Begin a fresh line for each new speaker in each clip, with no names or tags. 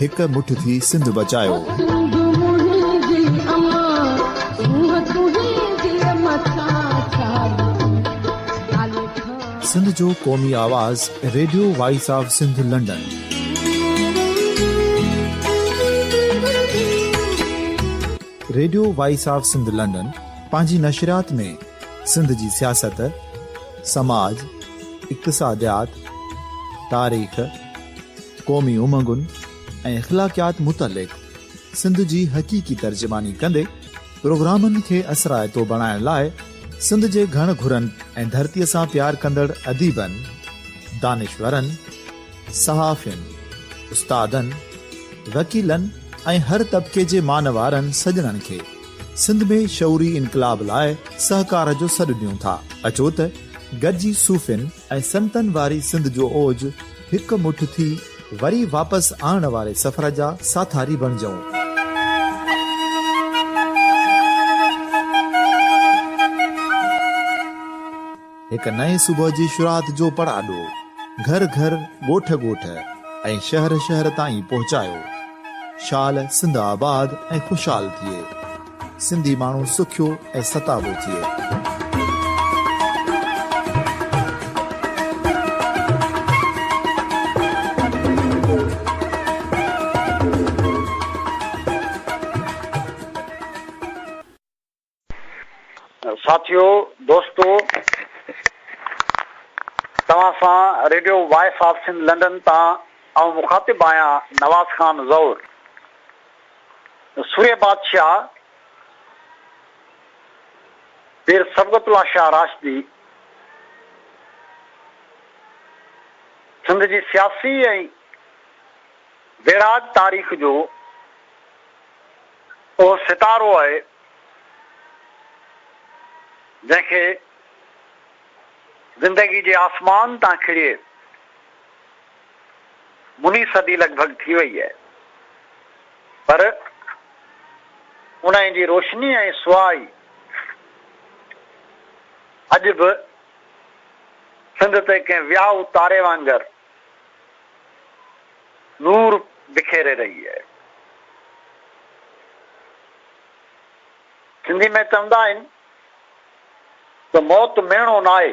هڪ مٺ ٿي سنڌ
بچايوسنڌ جو
قومي آواز radio voice of Sindh London radio voice of Sindh London پنهنجي نشريات ۾ سنڌ جي سياست سماج اقتصاديات تاريخ قومي امنگن ۽ اخلاقيات متعلق سنڌ جي حقيقي ترجماني ڪندي پروگرامن کي اثرائتو بڻائڻ لاء سنڌ جي گهڻ گهرن ۽ ڌرتي سان پيار ڪندڙ اديبن، دانشورن، صحافين، استادن، وڪيلن ۽ هر طبقي جي مانوارن سڄڻن کي سنڌ ۾ شعوري انقلاب لاء سهڪار جو سڏ ڏيون ٿا. اچو ته گڏجي صوفين ۽ سنتن واري سنڌ جو اوج، هڪ مٺ ٿي وري واپس آڻڻ واري سفر جا ساٿاري بڻجئون. هڪ نئين صبح جي شروعات جو پڙاڏو گهر گهر، ڳوٺ ڳوٺ ۽ شهر شهر تائين پهچايو. شال سنڌ آباد ۽ خوشحال ٿئي. سنڌي ماڻهو سکيو ۽ ستابو ٿئي.
ساٿيو دوستو توهان سان radio voice of Sindh London تان آئون مخاطب آهيان نواز خان زئور. سورهيه بادشاهه پير صبغت الله شاهه راشدي سنڌ جي سياسي ۽ ويڙهائت تاريخ جو اهو ستارو آهي جنهن کي زندگي جي آسمان تان کڻي مني صدي لڳ ڀڳ ٿي وئي آهي پر انهيء جي روشني ۽ سوا ئي اڄ به سنڌ تي ڪنهن ويائو تاري وانگر نور بکيري رهي آهي. سنڌي ۾ چوندا آهن ته موت ميڻو ناهي.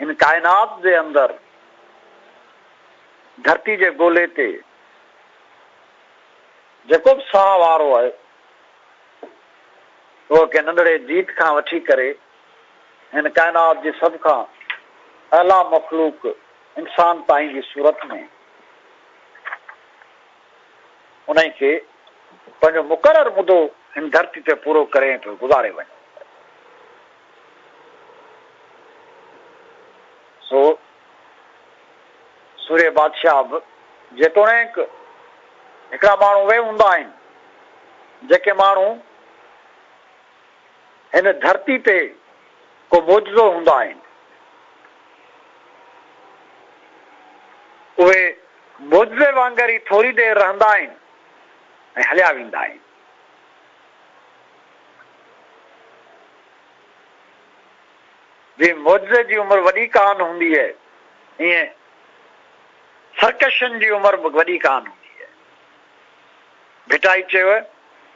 هن ڪائنات جي اندر ڌرتي جي گولي تي جيڪو به ساهه وارو آهي اهو ڪنهن ننڍڙي جيت کان وٺي ڪري هن ڪائنات جي سڀ کان اعليٰ مخلوق انسان تائين جي صورت ۾ انهي کي پنهنجو مقرر مدو هن ڌرتي تي پورو ڪري ۽ پوء گذاري وڃي. سو سورهيه بادشاهه به جيتوڻيڪ هڪڙا ماڻهو اهي هوندا آهن جيڪي ماڻهو هن ڌرتي تي ڪو معجزو هوندا آهن اهي معجزي وانگر ئي ٿوري دير رهندا آهن ۽ هليا ويندا آهن. جيئن معجزي جي عمر وڏي ڪانه هوندي هي ايئن سرڪشن جي عمر به وڏي ڪانه هوندي هي. ڀٽائي چيو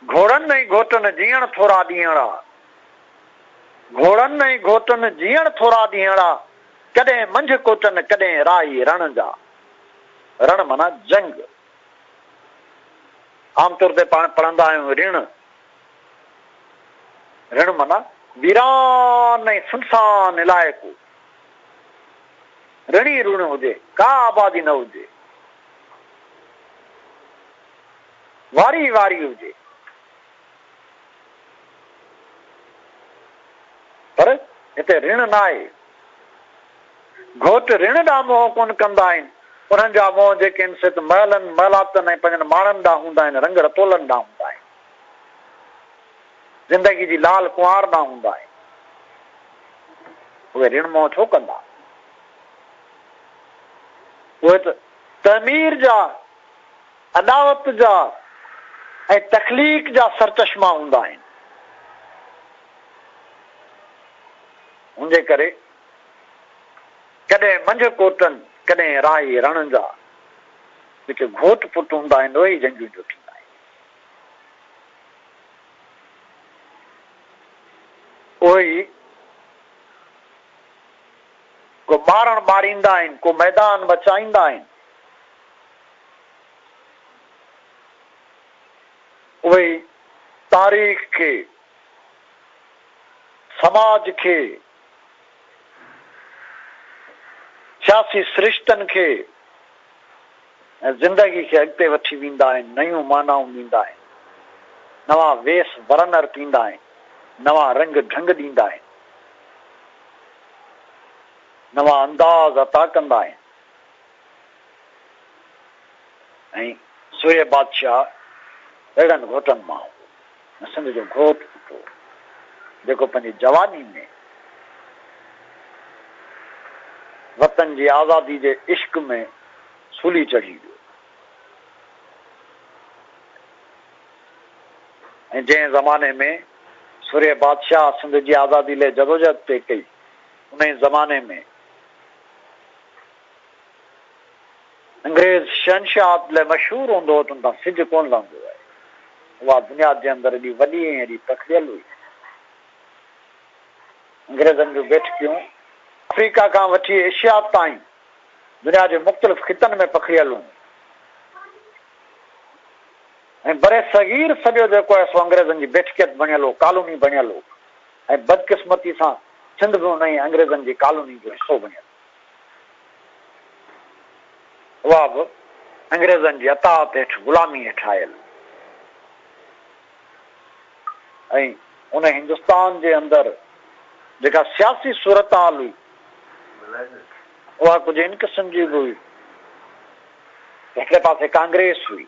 گهوڙن ۽ گهوٽن جيئڻ ٿورا ڏينهڙا گهوڙن ۽ گهوٽن جيئڻ ٿورا ڏينهڙا ڪڏهن منجهه ڪوٽن ڪڏهن راهي رڻ جا رڻ معنيٰ جنگ عام طور تي پاڻ پڙهندا آهيون رڻ، رڻ معنيٰ ويران ۽ سنسان علائقو، رڻ ئي رڻ هجي، ڪا آبادي نه هجي، واري ئي واري هجي، پر هتي رڻ ناهي. گهوٽ رڻ ڏانهن منهن ڪونه ڪندا آهن، انهن جا منهن جيڪي آهن سي ته محلن، محلاتن ۽ پنهنجن ماڻهن ڏانهن هوندا آهن، رنگ رتولن ڏانهن هوندا آهن. زندگي جي لال ڪنوار ڏانهن هوندا آهن. اهي رڻ منهن ڇو ڪندا؟ اهي ته تعمير جا، اڏاوت جا ۽ تخليق جا سرچشما هوندا آهن. ان جي ڪري ڪڏهن منجهه ڪوٽن ڪڏهن راهي رڻن جا جيڪي گهوٽ پٽ هوندا آهن اهي ئي جنگيون جو ٿيندا آهن. اهي ئي ڪو ٻارڻ ٻاريندا آهن ڪو ميدان مچائيندا آهن. اهي ئي تاريخ کي سماج کي سياسي سرشتن کي ۽ زندگي کي اڳتي وٺي ويندا آهن، نيون معنائون ڏيندا آهن، نوان ويس ورنر پيندا آهن، نوان رنگ ڍنگ ڏيندا آهن، نوان انداز عطا ڪندا آهن ۽ سورهيه بادشاهه اهڙن گهوٽن مان هو. سنڌ جو گهوٽ پٽ هو، جيڪو پنهنجي جواني ۾ وطن جي آزادي جي عشق ۾ سولي چڙهي ويو ۽ جنهن زماني ۾ سورهيه بادشاهه سنڌ جي آزادي لئه جدوجهد پئي ڪئي، انهي زماني ۾ انگريز شهنشاهه عدل مشهور هوندو هو ته ان تان سج ڪونه لهندو هو. اها بنياد جنهن هنڌ ايڏي وڏي ۽ ايڏي پکڙيل هئي. انگريزن جون بيٺڪيون آفريڪا کان وٺي ايشيا تائين دنيا جي مختلف خطن ۾ پکڙيل هيون ۽ برصغير سڄو جيڪو آهي سو انگريزن جي بيٺڪيت بڻيل هو، ڪالوني بڻيل هو ۽ بدقسمتي سان سنڌ به انهيء انگريزن جي ڪالوني جو حصو بڻيل هو. اها به انگريزن جي اطاعت هيٺ غلامي هيٺ آيل ۽ ان هندستان جي اندر جيڪا سياسي صورتحال هئي اها ڪجهه ان قسم جي به هئي هڪڙي پاسي ڪانگريس هئي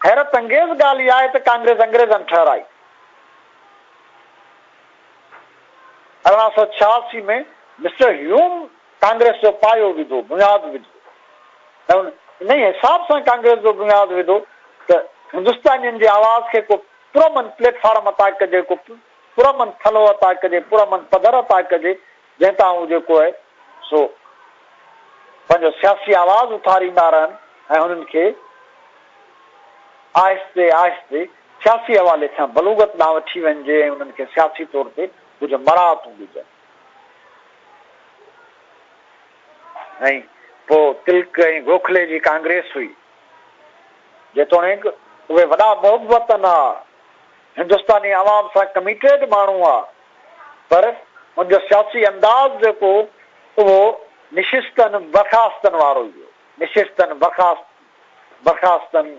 حيرت انگيز ڳالهه اها آهي ته ڪانگريس انگريزن ٺهرائي ارڙهن سؤ ڇهاسي ۾ مسٽر هيوم ڪانگريس جو پايو وڌو، بنياد وڌو ۽ انهي حساب سان ڪانگريس جو بنياد وڌو ته هندستانين جي آواز کي ڪو پرامن پليٽ فارم عطا ڪجي، ڪو پرامن ٿلهو عطا ڪجي، پرامن پڌر عطا ڪجي. جنهن تان هو جيڪو آهي سو پنهنجو سياسي آواز اٿاريندا رهن ۽ هنن کي آهستي آهستي سياسي حوالي کان بلوغت ڏانهن وٺي وڃجي ۽ انهن کي سياسي طور تي ڪجهه مراعتون ڏجن ۽ پوء تلڪ ۽ گوکلي جي ڪانگريس هئي جيتوڻيڪ اهي وڏا محبتن آ هندستاني عوام سان ڪميٽيڊ ماڻهو آ پر هن جو سياسي انداز جيڪو اهو نشستن برخاستن وارو ئي هو نشستن برخاست برخاستن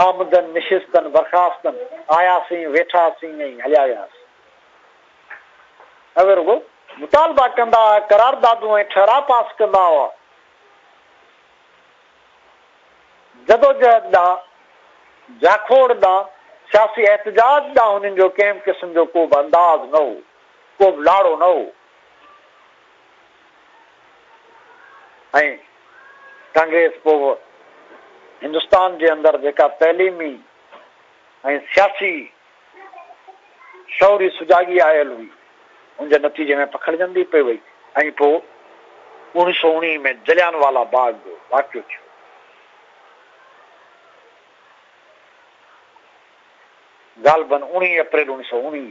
آمدن نشستن برخاستن آياسين ويٺاسين ۽ هليا وياسين اهي رڳو مطالبا ڪندا قراردادون ۽ ٺهراء پاس ڪندا هئا جدوجهد ڏانهن، جاکوڙ ڏانهن، سياسي احتجاج ڏانهن هنن جو ڪنهن به قسم جو ڪو به انداز نه هو، ڪو به لاڙو نه هو ۽ ڪانگريس پوء هندستان جي اندر جيڪا تعليمي ۽ سياسي شعور جي سجاڳي آيل هئي، ان جي نتيجي ۾ پکڙجندي پئي وئي ۽ پوء اوڻيهه سؤ اوڻيهه ۾ جليان والا باغ جو واقعو ٿيو. غالباً اوڻيهه اپريل اوڻيهه سؤ اوڻيهه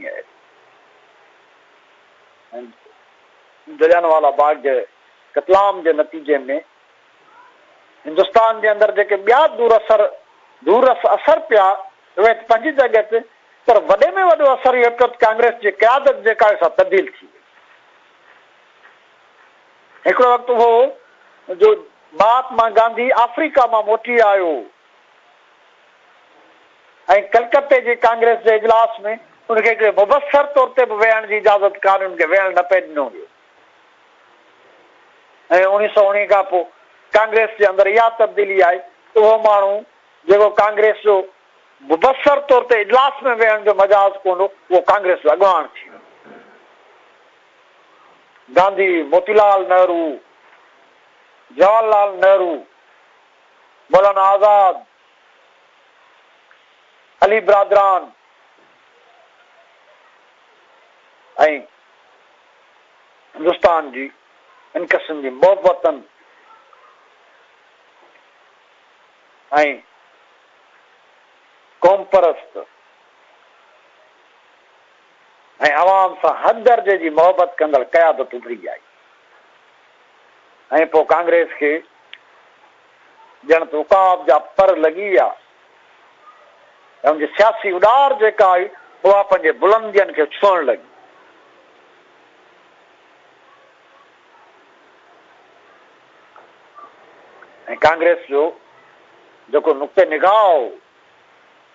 ۾، جليان والا باغ جي قتل عام جي نتيجي ۾ هندستان جي اندر جيڪي ٻيا دور اثر دور رس اثر پيا اهي ته پنهنجي جڳهه تي پر وڏي ۾ وڏو اثر اهو پيو ته ڪانگريس جي قيادت جيڪا هئي سا تبديل ٿي وئي هڪڙو وقت هو جو مهاتما گانڌي آفريڪا مان موٽي آيو ۽ ڪلڪتي جي ڪانگريس جي اجلاس ۾ ان کي هڪڙي مبصر طور تي به ويهڻ جي اجازت ڪانهن ان کي ويهڻ نه پئي ڏنو ويو ۽ اوڻيھ سؤ اوڻيھ کان پوء ڪانگريس جي اندر اها تبديلي آئي ته اهو ماڻهو جيڪو ڪانگريس جو مبصر طور تي اجلاس ۾ ويهڻ جو مجاز ڪونه هو اهو ڪانگريس جو اڳواڻ ٿي ويو. گانڌي، موتي لال نهرو، جواهر لال نهرو، مولانا آزاد، علي برادران ۽ هندستان جي هن قسم جي محبتن ۽ قومپرست ۽ عوام سان حد درجي جي محبت ڪندڙ قيادت اڀري آئي ۽ پوء ڪانگريس کي ڄڻ ته عقاب جا پر لڳي ويا ۽ ان جي سياسي اڏار جيڪا آئي، اها پنهنجي بلندين کي ڇهڻ لڳي. ۽ ڪانگريس جو جيڪو نقطه نگاهه هو،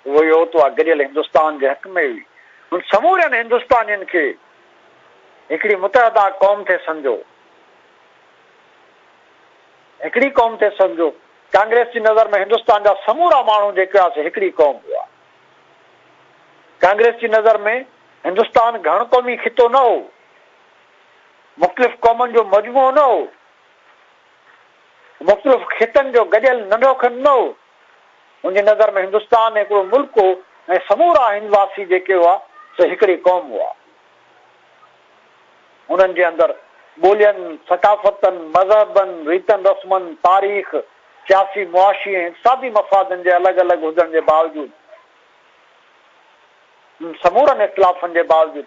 اهو اهو هو ته اها گڏيل هندستان جي حق ۾ هئي. هن سمورين هندستانين کي هڪڙي متحده قوم ٿي سمجهيو. هڪڙي قوم تي سمجهو. ڪانگريس جي نظر ۾ هندستان جا سمورا ماڻهو جيڪي هئا سي هڪڙي قوم هئا. ڪانگريس جي نظر ۾ هندستان گهڻ قومي خطو نه هو. مختلف قومن جو مجموعو نه هو. مختلف خطن جو گڏيل ننڍو کنڊ نه هو. هن جي نظر ۾ هندستان هڪڙو ملڪ هو ۽ سمورا هندواسي جيڪي هئا سي هڪڙي قوم هئا. انهن جي اندر ٻولين، ثقافتن، مذهبن، ريتن رسمن، تاريخ، سياسي، معاشي ۽ اقتصادي مفادن جي الڳ الڳ هجڻ جي باوجود انهن سمورن اختلافن جي باوجود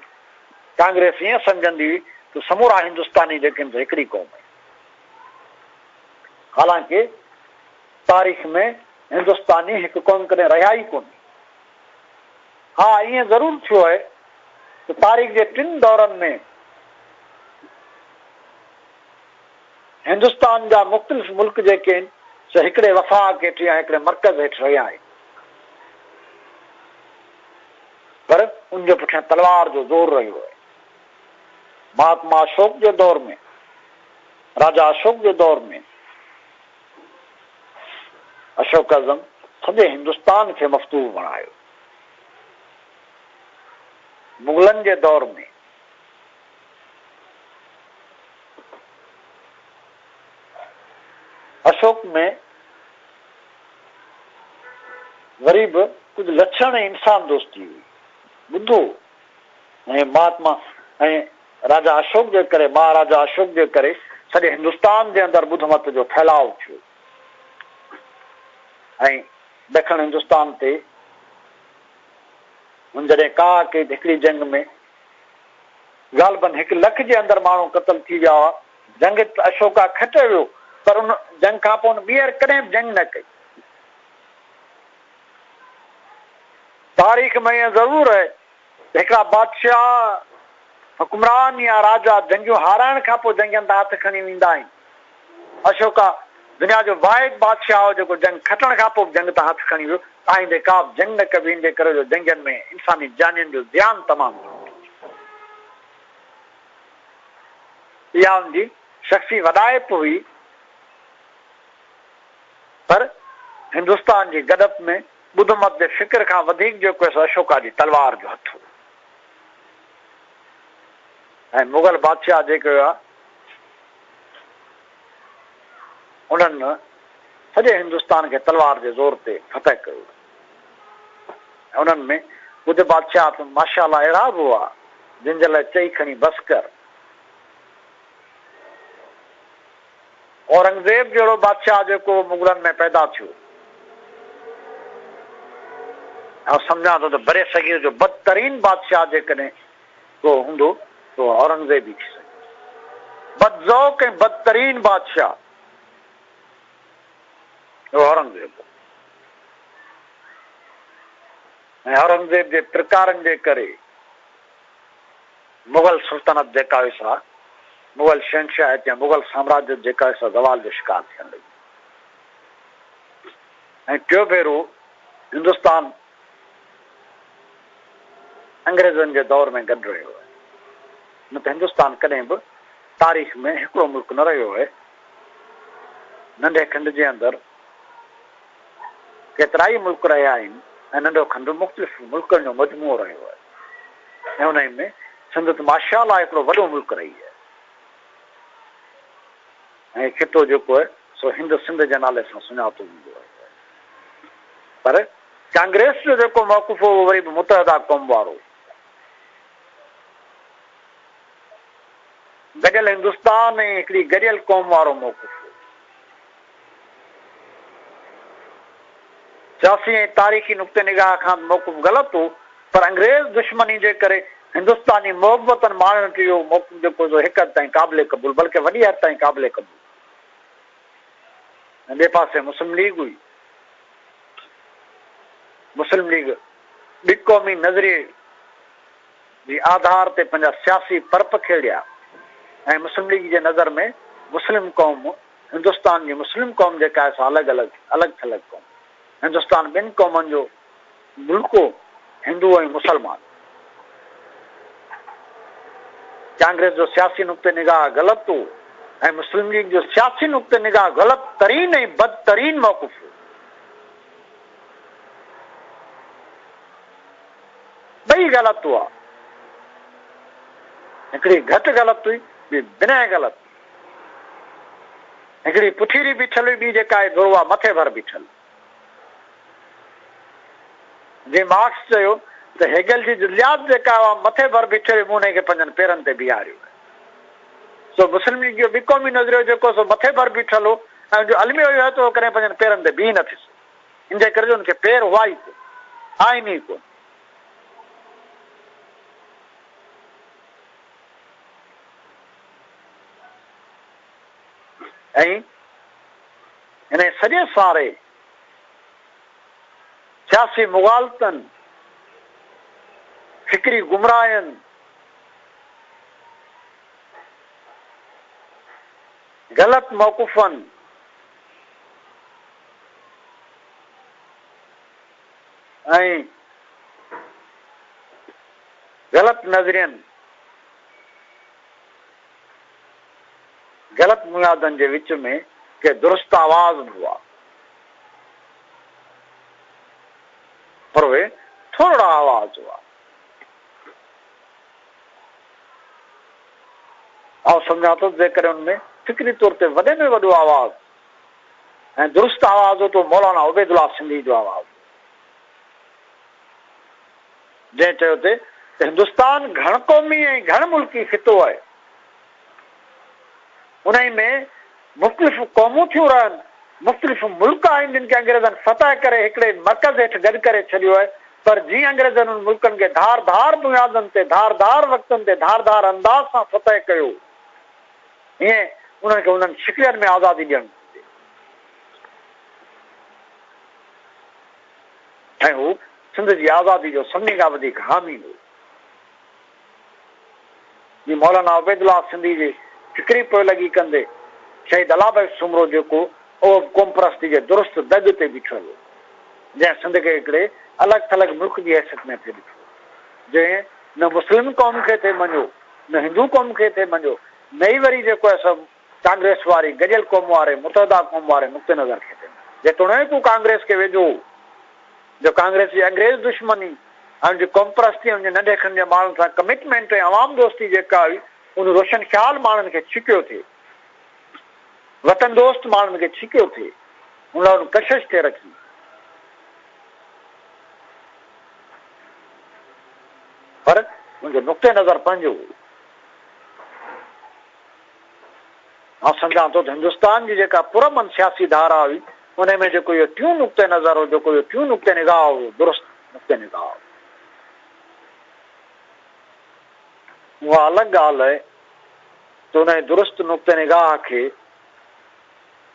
ڪانگريس ائين سمجهندي هئي ته سمورا هندستاني جيڪي آهن سي هڪڙي قوم آهن. حالانڪه تاريخ ۾ هندستاني هڪ قوم ڪڏهن رهيا ئي ڪونهي. ها ائين ضرور ٿيو آهي ته تاريخ جي ٽن دورن ۾ هندستان جا مختلف ملڪ جيڪي آهن سي هڪڙي وفاق هيٺ يا هڪڙي مرڪز هيٺ رهيا آهن پر ان جي پٺيان تلوار جو زور رهيو آهي. مهاتما اشوڪ جي دور ۾ راجا اشوڪ جي دور ۾ اشوڪ اعظم سڄي هندستان کي مفتوح بڻايو. مغلن جي دور ۾ اشوڪ ۾ وري به ڪجهه لڇڻ ۽ انسان دوستي هئي. ٻڌو ۽ مهاتما ۽ راجا اشوڪ جي ڪري مهاراجا اشوڪ جي ڪري سڄي هندستان جي اندر ٻڌ مت جو ڦهلاء ٿيو ۽ ڏکڻ هندستان تي هن جڏهن ڪا ڪيد هڪڙي جنگ ۾ غالبن هڪ لک جي اندر ماڻهو قتل ٿي ويا هئا. جنگ اشوڪا کٽيو ويو پر ان جنگ کان پوء هن ٻيهر ڪڏهن به جنگ نه ڪئي. تاريخ ۾ ائين ضرور آهي. هڪڙا بادشاهه، حڪمران يا راجا جنگيون هارائڻ کان پوء جنگين تان هٿ کڻي ويندا آهن. اشوڪا دنيا جو واحد بادشاهه هو جيڪو جنگ کٽڻ کان پوء به جنگ تان هٿ کڻي ويو. آئيندي ڪابه جنگ نه ڪبي ان جي ڪري جو جنگين ۾ انساني جانين جو زيان تمام گهڻو ٿو ٿئي. اها ان جي شخصي وڏائپ هئي پر هندستان جي گڏپ ۾ ٻڌ مت جي فڪر کان وڌيڪ جو ڪيس اشوڪا جي تلوار جو هٿ هو ۽ مغل بادشاهه جيڪي هئا انهن سڄي هندستان کي تلوار جي زور تي فتح ڪيو ۽ انهن ۾ ٻڌ بادشاهه تون ماشاءالله اهڙا به هئا جن جي لاء چئي کڻي بس ڪر. اورنگزيب جهڙو بادشاهه جيڪو مغلن ۾ پيدا ٿيو. آئون سمجهان ٿو ته برصغير جو بدترين بادشاهه جيڪڏهن ڪو هوندو ته اهو اورنگزيب ئي ٿي سگهيو. بدذوق ۽ بدترين بادشاهه اهو اورنگزيب هو ۽ اورنگزيب جي پرڪارن جي ڪري، مغل سلطنت جيڪا هئي سا مغل شهنشاهيت يا مغل سامراجيت جيڪا هئي سا زوال جو شڪار ٿيڻ لڳي ۽ ٽيون ڀيرو هندستان انگريزن جي دور ۾ گڏ رهيو آهي نه ته هندستان ڪڏهن به تاريخ ۾ هڪڙو ملڪ نه رهيو آهي ننڍي کنڊ جي اندر ڪيترائي ملڪ رهيا آهن ۽ ننڍو کنڊ مختلف ملڪن جو مجموعو رهيو آهي ۽ انهي ۾ سنڌ ته ماشاءالله هڪڙو وڏو ملڪ رهي آهي ۽ هي خطو جيڪو آهي سو هند سنڌ جي نالي سان سڃاتو ويندو رهيو آهي پر ڪانگريس جو جيڪو موقف هو اهو وري به متحده قوم وارو هو گڏيل هندستان ۽ هڪڙي گڏيل قوم وارو موقف هو سياسي ۽ تاريخي نقطه نگاهه کان به محڪم غلط هو پر انگريز دشمني جي ڪري هندستاني محبتن ماڻهن کي اهو محڪم جيڪو سو هڪ حد تائين قابل قبول بلڪه وڏي حد تائين قابل قبول هو ۽ ٻئي پاسي مسلم ليگ هئي مسلم ليگ ٻي قومي نظريي جي آڌار تي پنهنجا سياسي پرپ کيڙيا ۽ مسلم ليگ جي نظر ۾ مسلم قوم هندستان جي مسلم قوم جيڪا ايسا الڳ الڳ الڳ ٿلڳ قوم هندستان ٻن قومن جو ملڪو هندو ۽ مسلمان ڪانگريس جو سياسي نقطه نگاهه غلط هو ۽ مسلم ليگ جو سياسي نقطه نگاهه غلط ترين ۽ بدترين موقف هو ٻئي غلط هئا هڪڙي گهٽ غلط هئي ٻي بنهه غلط هڪڙي پٺيري بيٺل هئي، ٻي جيڪا آهي دروها مٿي ڀر بيٺل. جي مارڪس چيو ته هيگل جي جزيات جيڪا هئا مٿي ڀر بيٺي هئي، مون انهيء کي پنهنجن پيرن تي بيهاريو آهي. سو مسلميگي جو ٻي قومي نظريو جيڪو هو سو مٿي ڀر بيٺل هو ۽ ان جو الميو اهو هو ته هو ڪڏهن پنهنجن پيرن تي بيهي نه ٿي سگهيو. ان جي ڪري جو ان کي پير هئا ئي ڪونه، آهن ئي ڪونه. ائين انهيء سڄي ساري سياسي مغالطن، فڪري گمراهين، غلط موقفن، ۽ غلط نظرين، غلط بنيادن جي وچ ۾ ڪي درست آواز به هئا، پر اهي ٿورڙا آواز هئا. آئون سمجهان ٿو ته جيڪڏهن ان ۾ فڪري طور تي وڏي ۾ وڏو آواز ۽ درست آواز هو تو مولانا عبيدالله سنڌيء جو آواز هو، جنهن چيو ته هندستان گهڻ قومي ۽ گهڻ ملڪي خطو آهي، انهيء ۾ مختلف قومون ٿيون رهن، مختلف ملڪ آهن جن کي انگريزن فتح ڪري هڪڙي مرڪز هيٺ گڏ ڪري ڇڏيو آهي، پر جيئن انگريزن انهن ملڪن کي ڌار ڌار بنيادن تي، ڌار ڌار وقتن تي، ڌار ڌار انداز سان فتح ڪيو. ائين انهن کي انهن شڪلين ۾ آزادي ڏيڻ گهرجي ۽ هو سنڌ جي آزادي جو سڀني کان وڌيڪ حامي هو. جي مولانا عبيدالله سنڌي جي فڪري پوئلڳي ڪندي شهيد الله بخش سومرو جيڪو اهو به قومپرستي جي درست دڳ تي بيٺل هو جنهن سنڌ کي هڪڙي الڳ ٿلڳ ملڪ جي حيثيت ۾ ٿي ڏٺو جنهن نه مسلم قوم کي ٿي مڃيو نه هندو قوم کي ٿي ڀنجو نئي وري جيڪو آهي سو ڪانگريس واري گڏيل قوم واري متحده قوم واري نقطي نظر کي ٿي ڀنجو جيتوڻيڪ هو ڪانگريس کي ويجهو هو جو ڪانگريس جي انگريز دشمني ۽ ان جي قومپرستي ۽ ان جي ننڍي کن جي ماڻهن سان ڪمٽمينٽ ۽ عوام دوستي جيڪا هئي ان روشن خيال ماڻهن کي ڇڪيو ٿي وطن دوست ماڻهن کي ڇڪيو ٿي ان لاء ان ڪشش ٿي رکي. پر منهنجو نقطه نظر پنهنجو هو. مان سمجهان ٿو ته هندستان جي جيڪا پرامن سياسي ڌارا هئي، انهي ۾ جيڪو اهو ٽيون نقطه نظر هو، جيڪو اهو ٽيون نقطه نگاهه هو، اهو درست نقطه نگاهه هو. اها الڳ ڳالهه آهي ته انهي درست نقطه نگاهه کي،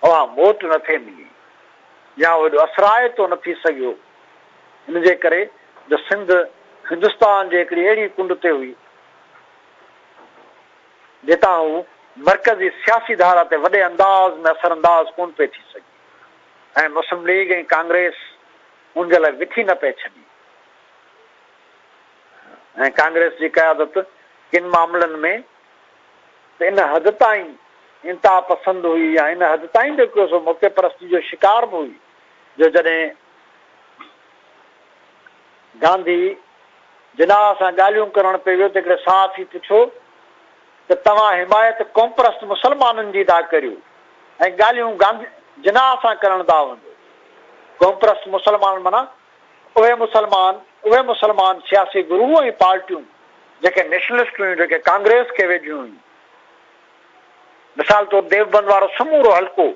اوهان موٽ نه ٿي ملي يا اهو ايڏو اثرائتو نه ٿي سگهيو ان جي ڪري جو سنڌ هندستان جي هڪڙي اهڙي ڪنڊ تي هئي جتان هو مرڪزي سياسي ڌارا تي وڏي انداز ۾ اثر انداز ڪونه پئي ٿي سگهي ۽ مسلم ليگ ۽ ڪانگريس ان جي لاء وٿي نه پئي ڇڏي ۽ ڪانگريس جي قيادت ڪن معاملن ۾ ته ان حد تائين انتها پسند هئي يا ان حد تائين به ڪو سو موقعي پرستي جو شڪار به هئي جو جڏهن گانڌي جناح سان ڳالهيون ڪرڻ پئي ويو ته هڪڙي صحافي پڇيو ته توهان حمايت قومپرست مسلمانن جي ٿا ڪريو ۽ ڳالهيون گانڌي جناح سان ڪرڻ ٿا وڃو قومپرست مسلمان معنيٰ اهي مسلمان اهي مسلمان سياسي گروه ۽ پارٽيون جيڪي نيشنلسٽ هيون جيڪي ڪانگريس کي ويجهيون هيون مثال طور ديوبند وارو سمورو حلقو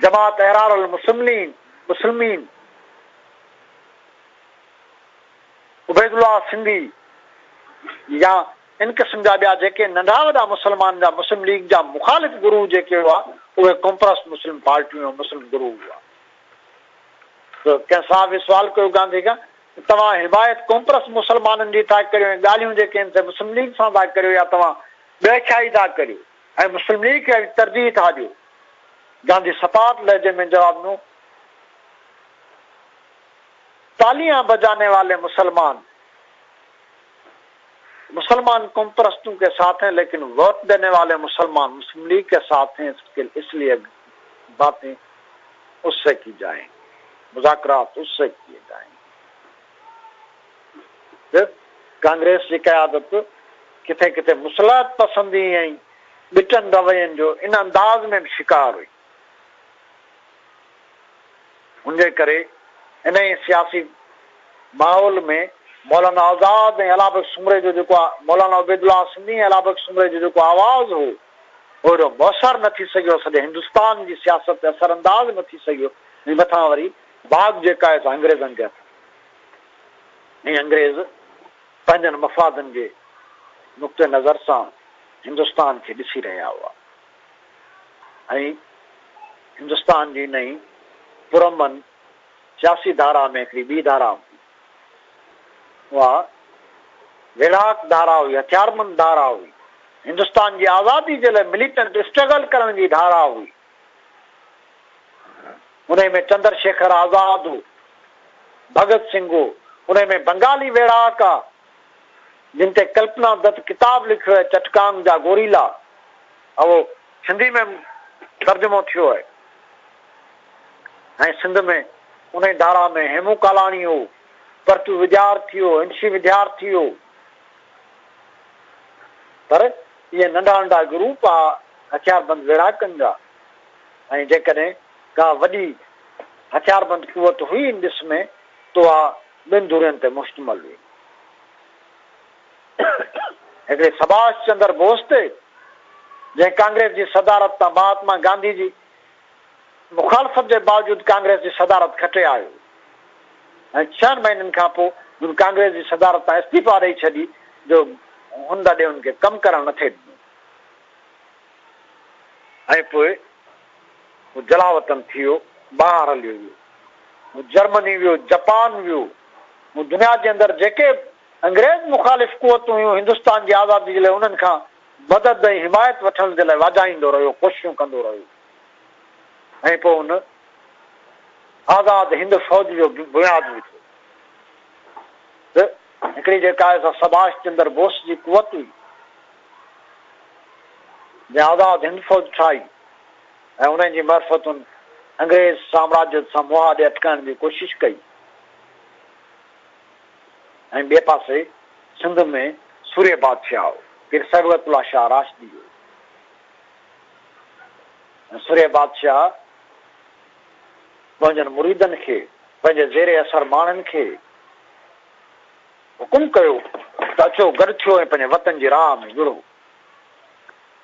جماعت احرار المسلمين مسلمين عبيد الله سنڌي يا ان قسم جا ٻيا جيڪي ننڍا وڏا مسلمان جا مسلم ليگ جا مخالف گروه جيڪي هئا اهي ڪمپرس مسلم پارٽيون مسلم گروه هئا ڪنهن صاحب هي سوال ڪيو گانڌي کان ته توهان هدايت قومپرست مسلمانن جي ٿا ڪريو ۽ ڳالهيون جيڪي آهن سي مسلم ليگ سان ٿا ڪريو يا توهان ڏهکيائي ٿا ڪريو ۽ مسلم ليگ کي ترجيح ٿا ڏيو؟ گانڌي سٽاٽ لهجي ۾ جواب ڏنو تاليان بجاني والي مسلمان مسلمان قومپرستون ڪي ساٿ هين ليڪن ووٽ ڏيني والي مسلمان مسلم ليگ ڪي ساٿ هين اس ليئي باتين اس سي ڪي جائين، مذاڪرات اس سي ڪيي جائين ته ڪانگريس جي قيادت ڪٿي ڪٿي مصلحت پسندي ۽ ٻٽن روين جو ان انداز ۾ به شڪار هئي. ان جي ڪري انهيء سياسي ماحول ۾ مولانا آزاد ۽ علابخش سومري جو جيڪو مولانا عبيدالله سنڌي ۽ علابخش سومري جو جيڪو آواز هو، اهڙو موثر نه ٿي سگهيو، سڄي هندستان جي سياست تي اثر انداز نه ٿي سگهيو ۽ مٿان وري باغ جيڪا آهي سا انگريزن جي هٿ ۾ آهي ۽ انگريز پنهنجن مفادن جي نقطه نظر سان هندستان کي ڏسي رهيا هئا ۽ هندستان جي انهي پرامن سياسي ڌارا ۾ هڪڙي ٻي ڌارا هوندي اها ويڙهاڪ ڌارا هئي، هٿياربند ڌارا هئي، هندستان جي آزادي جي لاء مليٽنٽ اسٽرگل ڪرڻ جي ڌارا هئي. انهي ۾ چندر شيکر آزاد هو، ڀڳت سنگهه هو، انهي ۾ بنگالي ويڙهاڪ ها، جن تي ڪلپنا دت ڪتاب لکيو آهي چٽڪانگ جا گوريلا، اهو سنڌي ۾ ترجمو ٿيو آهي. ۽ سنڌ ۾ انهي ڌارا ۾ هيمون ڪالاڻي هو، پر تون وڄار ٿي هو، هنشي وڌيار ٿي هو. پر اهي ننڍا ننڍا گروپ آ هٿياربند ويڙها ڪن جا ۽ جيڪڏهن ڪا وڏي هٿياربند قوت هئي ان ڏس ۾ تو اها ٻن ڌرين تي مشتمل هئي. هڪڙي سڀاش چندر بوس تي، جنهن ڪانگريس جي صدارت تان مهاتما گانڌي جي مخالفت جي باوجود ڪانگريس جي صدارت کٽي آيو ۽ ڇهن مهينن کان پوء هن ڪانگريس جي صدارت تان استعيفا ڏئي ڇڏي جو هن دڏي هن کي ڪم ڪرڻ نه ٿي ڏنو ۽ پوء هو جلاوطن ٿي ويو، ٻاهر هليو ويو. هو جرمني ويو، جپان ويو. هو دنيا جي اندر جيڪي انگريز مخالف قوتون هيون هندستان جي آزادي جي لاء انهن کان مدد ۽ حمايت وٺڻ جي لاء واجهائيندو رهيو، ڪوششون ڪندو رهيو ۽ پوء ان آزاد هند فوج جو بنياد وڌو ته هڪڙي جيڪا آهي سا سڀاش چندر بوس جي قوت هئي جنهن آزاد هند فوج ٺاهي ۽ انهن جي معرفت ان انگريز سامراجيت سان مهاڏي اٽڪائڻ جي ڪوشش ڪئي. ۽ ٻئي پاسي سنڌ ۾ سورهيه بادشاهه هو، پير صبغت الله شاهه راشدي هو ۽ سورهيه بادشاهه پنهنجن مريدن کي، پنهنجي زير اثر ماڻهن کي حڪم ڪيو ته اچو گڏ ٿيو ۽ پنهنجي وطن جي راهه ۾ وڙهو.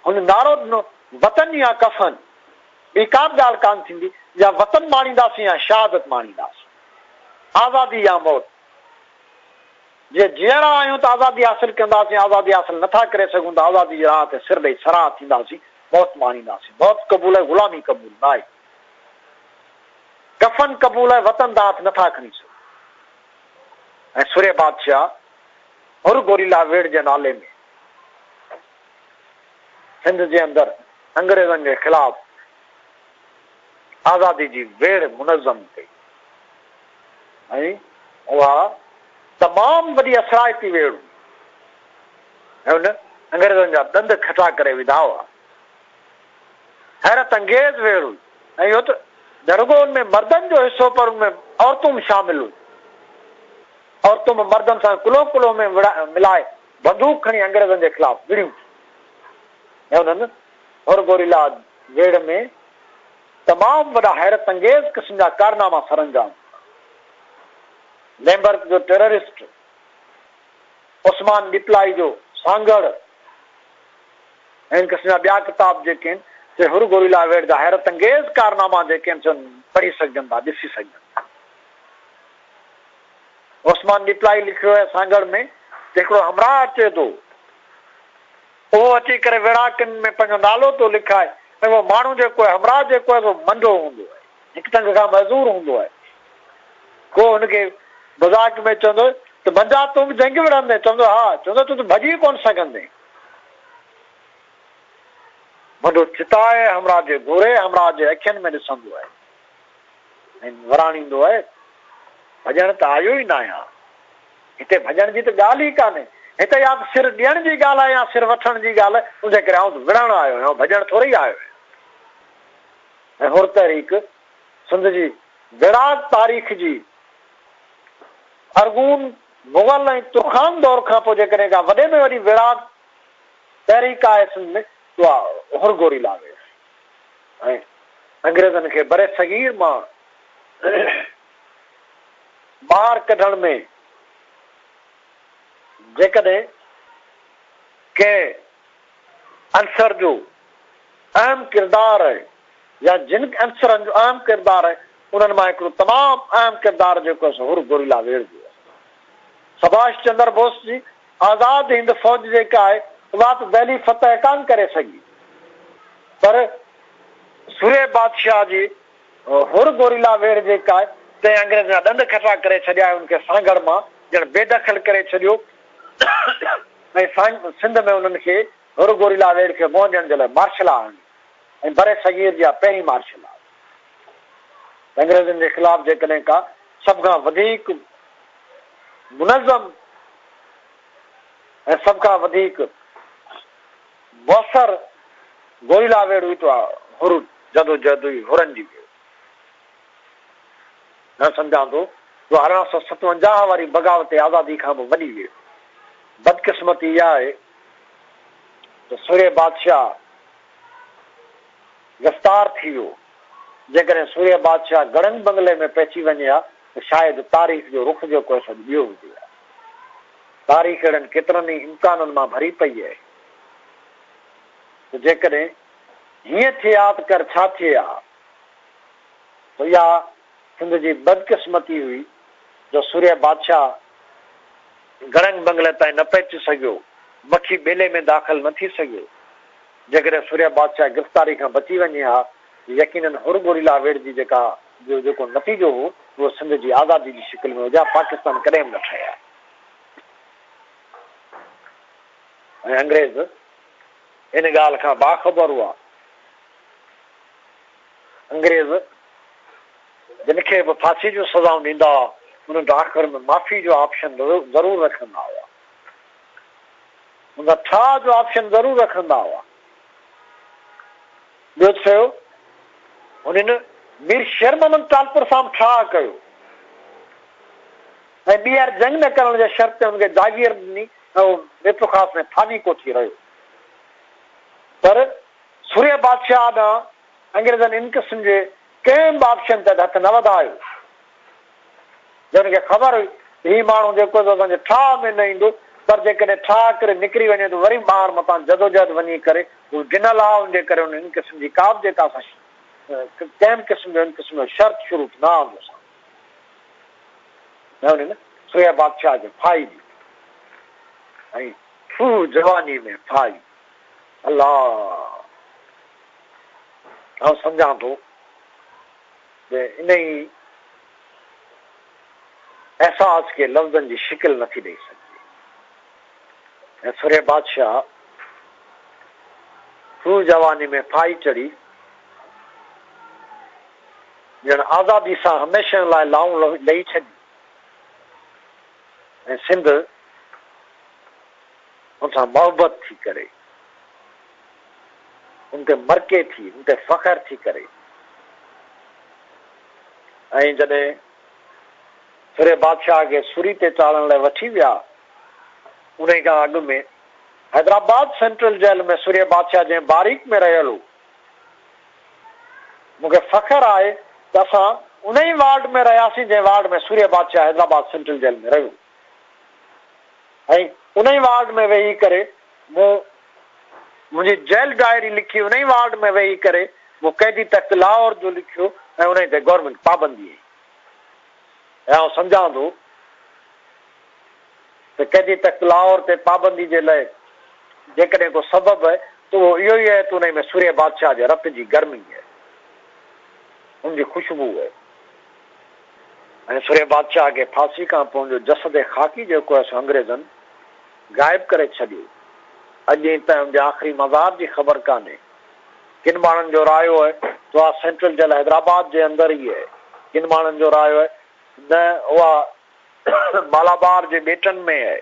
هن نعرو ڏنو، وطن يا ڪفن، ٻي ڪا به ڳالهه ڪانه ٿيندي، يا وطن ماڻينداسين يا شهادت ماڻينداسين. آزادي يا موت! جي جيئرا آهيون ته آزادي حاصل ڪنداسين، آزادي حاصل نه ٿا ڪري سگهون ته آزادي جي راهه تي سر ڏئي سرها ٿينداسين، موت ماڻينداسين. موت قبول آهي، غلامي قبول ناهي. ڪفن قبول آهي، وطن ته هٿ نه ٿا کڻي سگهون. ۽ سورهيه بادشاهه حر گوريلا ويڙهه جي نالي ۾ سنڌ جي اندر انگريزن جي خلاف آزادي جي ويڙهه منظم ڪئي ۽ اها تمام وڏي اثرائتي ويڙهه هئي ۽ ان انگريزن جا ڏند کٽا ڪري وڌا هئا. حيرت انگيز ويڙهه هئي ۽ اهو ته نه رڳو ان ۾ مردن جو حصو پر ان ۾ عورتون به شامل هيون. عورتون به مردن سان ڪلهو ڪلهو ۾ ملائي بندوق کڻي انگريزن جي خلاف وڙهيون ٿيون ۽ انهن ھورگوريلاد ويڙھه ۾ تمام وڏا حيرت انگيز قسم جا ڪارناما سر انجام ڏنا. ليمبرڪ جو ٽيررسٽ عثمان ڏيپلائي جو سانگهڙ ۽ ان قسم جا ٻيا ڪتاب جيڪي آھن سي ھورگوريلا ويڙھه جا حيرت انگيز ڪارناما جيڪي آھن سي پڙھي سگهجن ٿا ڏسي سگهجن ٿا. عثمان ڏيپلائي لکيو آھي سانگهڙ ۾ ته ھڪڙو ھمراھ اچي ٿو اهو اچي ڪري ويڙهاڪن ۾ پنهنجو نالو ٿو لکائي ۽ اهو ماڻهو جيڪو آهي همراهه جيڪو آهي سو منڊو هوندو آهي هڪ ٽنگ کان معذور هوندو آهي ڪو هن کي مذاق ۾ چوندو ته منجا تون به جنگ وڙهندين چوندو ها چوندو تون ته ڀڄي ڪونه سگهندين منڊو چتائي همراهه جي گهوري همراهه جي اکين ۾ ڏسندو آهي ۽ وراڻيندو آهي ڀڄڻ ته آيو ئي ناهيان هتي ڀڄڻ جي ته ڳالهه ئي ڪانهي. هتي يا ته سر ڏيڻ جي ڳالهه آهي يا سر وٺڻ جي ڳالهه. ان جي ڪري آئون ته وڙهڻ آيو آهيان، ڀڄڻ ٿورئي آيو آهيان. ۽ حر تحريڪ سنڌ جي ويڙهاڪ تاريخ جي ارغون، مغل ۽ ترخان دور کان پوء جيڪڏهن ڪا وڏي ۾ وڏي ويڙهاڪ تحريڪ آهي سنڌ ۾ ته اها حر گوري لاوي آهي ۽ انگريزن کي برصغير مان ٻاهر ڪڍڻ ۾، جيڪڏهن ڪنهن عنصر جو اهم ڪردار آهي يا جن عنصرن جو اهم ڪردار آهي، انهن مان هڪڙو تمام اهم ڪردار جيڪو آهي سو حر گوريلا ويڙهه جو آهي. سڀاش چندر بوس جي آزاد هند فوج جيڪا آهي اها ته دهلي فتح ڪانه ڪري سگهي پر سري بادشاهه جي حر گوريلا ويڙهه جي ڪاء تنهن انگريز جا ڏند کٽا ڪري ڇڏيا ۽ ان کي سانگهڙ مان ڄڻ بي دخل ڪري ڇڏيو ۽ سان سنڌ ۾ انهن کي حر گوريلا ويڙهه کي منهن ڏيڻ جي لاء مارشل لا آڻي ۽ بر صغير جي اها پهرين مارشل لا هئي ته انگريزن جي خلاف جيڪڏهن ڪا سڀ کان وڌيڪ منظم ۽ سڀ کان وڌيڪ بوسر گوئيلا ويڙهه هئي تو هر جدوجهد هئي هرن جي ويڙهه نه سمجهان تو جو ارڙهن سئو ستونجاهه واري بغاوت آزادي کان به وڏي ويڙهه بدقسمتي اها آهي ته سورهيه بادشاهه گرفتار ٿي ويو جيڪڏهن سورهيه بادشاهه گڙنگ بنگلي ۾ پئسي وڃي ها ته شايد تاريخ جو رخ جيڪو هي سو اڄ ٻيو هجي ها. تاريخ اهڙن ڪيترن ئي امڪانن مان ڀري پئي اهي ته جيڪڏهن هيئن ٿئي ها ته ڪر ڇا ٿئي ها سو اها سنڌ جي بدقسمتي هئي جو سورهيه بادشاهه گڙنگ بنگلي تائين نه پهچي سگهيو، مکي ٻيلي ۾ داخل نه ٿي سگهيو. جيڪڏهن سورهيه بادشاهه گرفتاري کان بچي وڃي ها ته يقينن هر گوريلا ويڙهجي جيڪا جو جيڪو نتيجو هو اهو سنڌ جي آزادي جي شڪل ۾ هجي ها، پاڪستان ڪڏهن به نه ٺهي ها. ۽ انگريز ان ڳالهه کان باخبر هئا. انگريز جن کي به ڦاسي جون سزائون ڏيندا هئا، انهن ته آخر ۾ معافي جو آپشن ضرور رکندا هئا. انهن ٺاهه جو آپشن ضرور رکندا هئا. ٻيو ته سهيو، هنن مير شير محمد ٽالپر سان به ٺاهه ڪيو. ۽ ٻيهر جنگ نه ڪرڻ جي شرط تي هن کي جاگير ڏني ۽ هو ميرپور خاص ۾ ٿاني ڪوٺي رهيو. پر سورهيه بادشاهه ڏانهن انگريزن ان قسم جي ڪنهن به آپشن تحت هٿ نه وڌايو. جنهن کي خبر هئي ته هي ماڻهو جيڪو سو اسان جي ٺاهه ۾ نه ايندو، پر جيڪڏهن ٺاهه ڪري نڪري وڃي ته وري ٻاهر متان جدوجهد وڃي ڪري هو ڊنل آهي، ان جي ڪري هن ان قسم جي ڪابه جيڪا اسان ڪنهن به قسم جو ان قسم جو شرط شروط نه آندوسان. نه هوني نه سويا بادشاهه جو ڦائي ڏي ۽ سوء جواني ۾ ڦائي الله آئون سمجهان ٿو جو انهي احساس کي لفظن جي شڪل نٿي ڏئي سگهجي ۽ سوريا بادشاهه سوء جواني ۾ ڦائي چڙهي ڄڻ آزادي سان هميشه لاء لائون لهي ڇڏي ۽ سنڌ ان سان محبت ٿي ڪري، ان تي مرڪي ٿي، ان تي فخر ٿي ڪري ۽ جڏهن سرهي بادشاهه کي سري تي چاڙهڻ لاء وٺي ويا، انهي کان اڳ ۾ حيدرآباد سينٽرل جيل ۾ سرهي بادشاهه جنهن باريڪ ۾ رهيل هو، مون کي فخر آهي ته اسان انهي وارڊ ۾ رهياسين جنهن وارڊ ۾ سوريه بادشاهه حيدرآباد سينٽرل جيل ۾ رهيو ۽ انهي وارڊ ۾ ويهي ڪري مون منهنجي جيل ڊائري لکي انهي وارڊ ۾ ويهي ڪري مون قيدي تخت لاهور جو لکيو ۽ انهي تي گورنمينٽ پابندي هئي ۽ آئون سمجهان ٿو ته ڪنهن جي تخت لاهور تي پابندي جي لئه جيڪڏهن ڪو سبب اهي ته اهو اهو ئي اهي ته انهيء ۾ سورهيه بادشاهه جي رت جي گرمي اهي، ان جي خوشبو اهي ۽ سورهيه بادشاهه کي ڦاسي کان پوء ان جو جسد خاڪي جيڪو اهي سو انگريزن غائب ڪري ڇڏيو اڄ ائين تائين ان جي آخري مزار جي خبر ڪانهي. ڪن ماڻهن جو رايو هي ته اها سينٽرل جيل حيدرآباد جي اندر ئي هي. ڪن ماڻهن جو رايو هي نه اها مالابار جي ٻيٽن ۾ هي.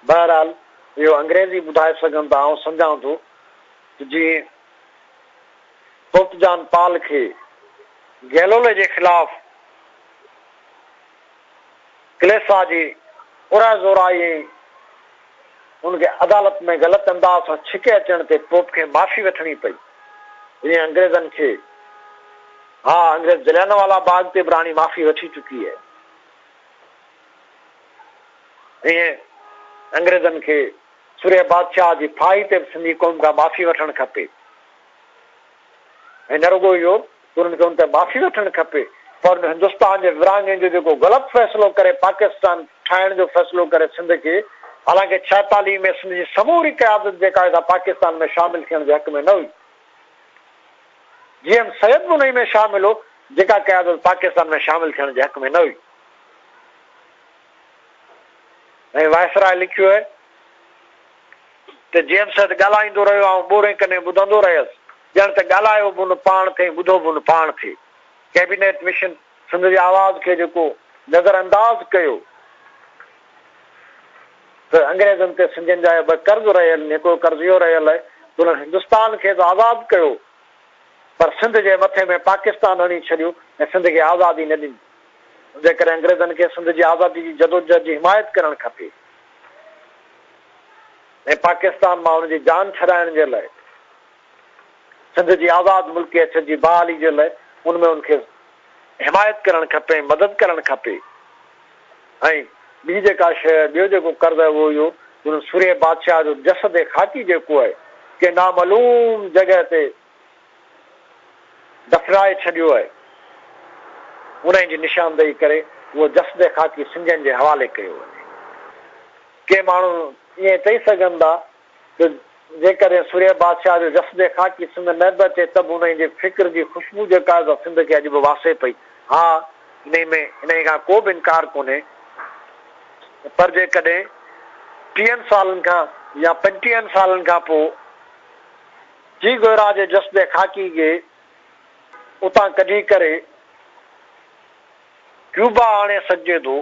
بهرحال اهو انگريز ئي ٻڌائي سگهن ٿا. آئون سمجهان ٿو ته جيئن پوپ جان پال کي گيلولي جي خلاف ڪليسا جي پرهه زورائي ۽ هن کي عدالت ۾ غلط انداز سان ڇڪي اچڻ تي پوپ کي معافي وٺڻي پئي، جيئن انگريزن کي. ها، انگريز جليانوالا باغ تي به راڻي معافي وٺي چڪي هئي، ائين انگريزن کي سورهيه بادشاهه جي ڦاهي تي به سنڌي قوم کان معافي وٺڻ کپي ۽ نه رڳو اهو. انهن کي ان تي معافي وٺڻ کپي پر ان هندستان جي ورهاڱي جو جيڪو غلط فيصلو ڪري پاڪستان ٺاهڻ جو فيصلو ڪري سنڌ کي حالانڪه ڇهيتاليهه ۾ سنڌ جي سموري قيادت جيڪا هئي سا پاڪستان ۾ شامل ٿيڻ جي حق ۾ نه هئي جي ايم سيد به انهي ۾ شامل هو جيڪا قيادت پاڪستان ۾ شامل ٿيڻ جي حق ۾ نه هئي. ۽ وائسراء لکيو هي ته جيمس سيد ڳالهائيندو رهيو، آئون ٻورين ڪنين ٻڌندو رهيس، ڄڻ ته ڳالهايو به ان پاڻ ٿي ۽ ٻڌو به ان پاڻ ٿي. ڪيبينيٽ مشن سنڌ جي آواز کي جيڪو نظر انداز ڪيو ته انگريزن تي سنڌين جا اهي ٻه قرض رهيل آهن، هڪڙو قرض اهو رهيل آهي ته انهن هندستان کي ته آزاد ڪيو پر سنڌ جي مٿي ۾ پاڪستان هڻي ڇڏيو ۽ سنڌ کي آزادي نه ڏني. جنهن ڪري انگريزن کي سنڌ جي آزادي جي جدوجهد جي حمايت ڪرڻ کپي ۽ پاڪستان مان ان جي جان ڇڏائڻ جي لاء سنڌ جي آزاد ملڪي اڇ جي بحالي جي لاء ان ۾ ان کي حمايت ڪرڻ کپي ۽ مدد ڪرڻ کپي ۽ ٻي جيڪا شيء ٻيو جيڪو قرض آهي اهو اهو جو ان سورهيه بادشاهه جو جسد خاڪي جيڪو آهي ڪنهن نامعلوم جڳهه تي دفنائي ڇڏيو آهي، انهي جي نشاندهي ڪري اهو جسد خاڪي سنڌين جي حوالي ڪيو وڃي. ڪي ماڻهو ائين چئي سگهن ٿا ته جيڪڏهن سورهيه بادشاهه جو جسد خاڪي سنڌ نه به اچي ته به انهي جي فڪر جي خوشبو جيڪا آهي سا سنڌ کي اڄ به واسي پئي. ها انهي ۾ انهي کان ڪو به انڪار ڪونهي پر جيڪڏهن ٽيهن سالن کان يا پنجٽيهن سالن کان پوء، جي گهرا جي جسد خاڪي کي اتان ڪڍي ڪري ڪيوبا آڻي سگهجي ٿو،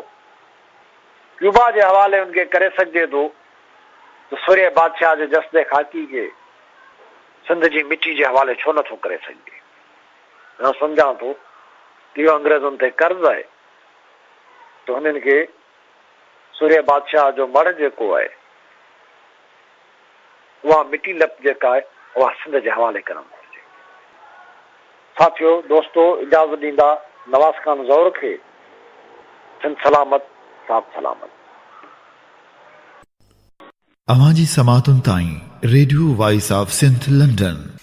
ڪيوبا جي حوالي ان کي ڪري سگهجي ٿو ته سورهيه بادشاهه جي جسد خاڪي کي سنڌ جي مٽي جي حوالي ڇو نٿو ڪري سگهجي؟ آئون سمجهان ٿو ته اهو انگريزن تي قرض آهي ته هنن کي سورهيه بادشاهه جو مڙهه جيڪو آهي، اها مٽي لپ جيڪا آهي، اها سنڌ جي حوالي ڪرڻ گهرجي. ساٿيو، دوستو، اجازت ڏيندا نواز خان زهور کي، سنڌ سلامت، ساٿ سلامت.
اوهان جي سماعتن تائين radio voice of Sindh London.